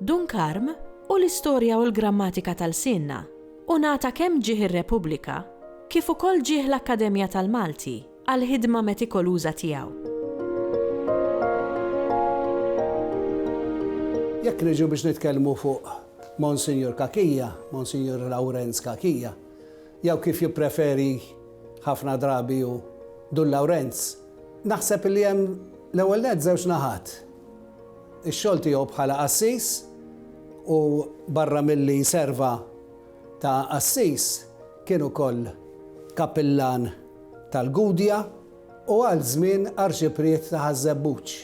Dun Karm u l-istorja u l-grammatika ta' lsienna, u ngħata kemm ġieh ir-Repubblika kif ukoll ġieh l-Akkademja tal-Malti għall-ħidma metikoluża tiegħu. Jekk niġu biex nitkellmu fuq Monsinjur Cachia, Monsinjur Lawrenz Cachia, jew kif jippreferi ħafna drabi hu Dun Lawrenz, naħseb li hemm l-ewwel nett żewġ naħat. Ix-xogħol tiegħu bħala qassis u barra milli jserva ta' qassis kien ukoll kappillan tal-Gudja u għal żmien arċipriet ta' Ħaż-Żebbuġ,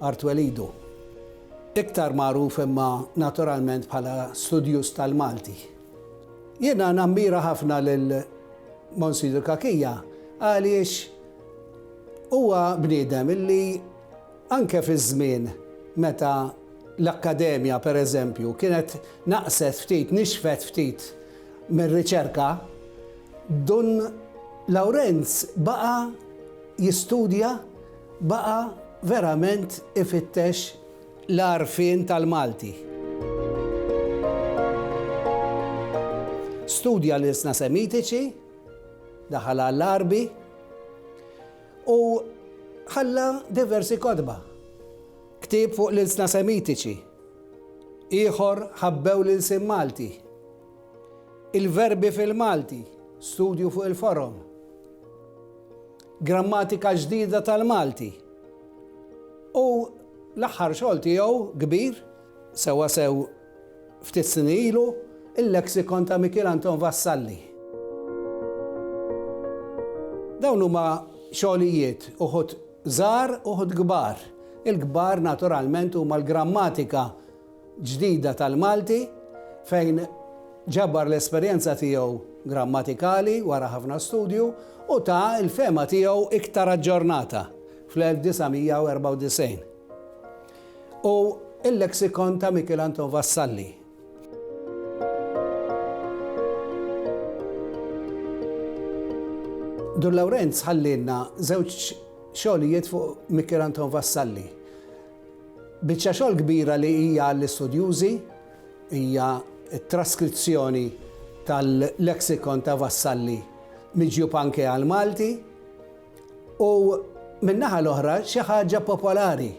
Art Welidu. Iktar magħruf imma naturalment bħala studjuż tal-Malti. Jiena nammira ħafna lil Monsinjur Cachia għaliex huwa bniedem illi, Anke fi żmien meta l-Akkademja, per eżempju, kienet naqset ftit, nixfet ftit mir-riċerka, Dun Lawrenz baqa' jistudja, baqa' verament ifittex l-għarfien tal-Malti. Studja l-ilsna Semitiċi, daħal għall-Għarbi. U ħalla diversi kotba, ktieb fuq l-ilsna Semitiċi, ieħor Ħabbew l-Ilsien Malti, Il-Verbi fil-Malti, studju fuq il-forom, Grammatika ġdida tal-Malti, u l-aħħar xogħol tiegħu kbir, sewwasew Ftit snin ilu, il-Lexicon ta' Mikiel Anton Vassalli. Dawn huma xogħlijiet uħud żgħar uħud kbar. Il-kbar naturalment huma l-grammatika ġdida tal-Malti fejn ġabar l-esperjenza tiegħu grammatikali wara ħafna studju u ta l-fehma tiegħu iktar aġġornata fl-1994. u Il-Lexicon ta' Mikiel Anton Vassalli. Dur Lawrenz ħallilna żewġ xogħlijiet fuq Mikiel Anton Vassalli. Biċċa xogħol kbira li hija l-istudjużi hija t-traskrizzjoni tal-leksikon ta' Vassalli miġjub anke għal Malti U min-naħa l-oħra xi ħaġa popolari,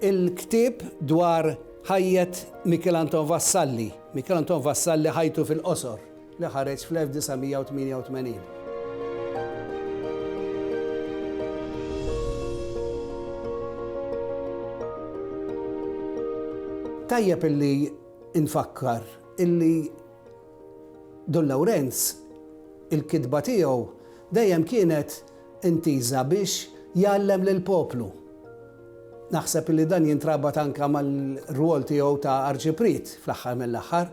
il-ktieb dwar ħajjet Mikiel Anton Vassalli, Mikiel Anton Vassalli ħajtu fil-qosor, li ħareġ fl-1988. Tajjeb illi nfakkar illi Dun Lawrenz il-kitba tiegħu Dejjem kienet intiża biex jgħallem lill-poplu. Naħseb illi dan jintrabat anke mar-rwol tiegħu ta' Arċipriet fl-aħħar mill-aħħar.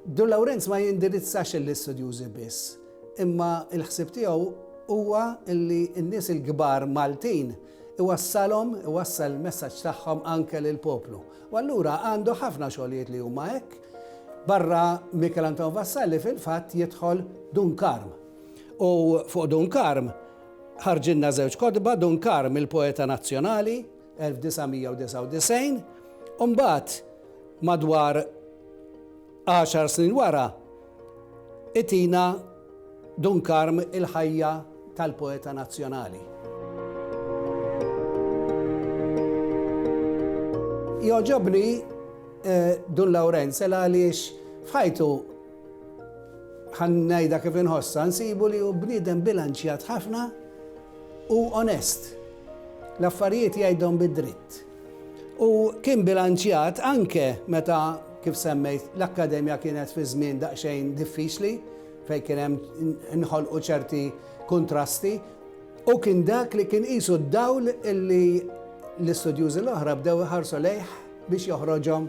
Dun Lawrenz ma jindirizzax lill-istudjużi biss, imma l-ħsieb tiegħu huwa illi n-nies il-kbar Maltin iwassalhom, iwassal il-messaġġ tagħhom anke lill-poplu. U allura għandu ħafna xogħlijiet li huma hekk. Barra Michel Anton Vassalli fil-fatt jidħol Dun Karm. U fuq Dun Karm ħarġilna żewġ kotba, Dun Karm il-poeta nazzjonali, 1999, u mbagħad madwar għaxar snin wara Itina Dun Karm il-ħajja tal-poeta nazzjonali. Joġobni eh, Dun Lawrenz el għaliex fħajtu ħannajda kif inħossa, nsibu li u bnidem bilanċjat ħafna u onest. L-affarijiet jgħidhom bid-dritt. U kien bilanċjat anke meta, kif semmejt, l-Akkademja kienet fi żmien daqsxejn diffiċli fejn kien hemm inħolqu ċerti kuntrasti. Hu kien dak li kien qisu d-dawl li l-istudjużi l-oħra bdew iħarsu lejh biex joħroġhom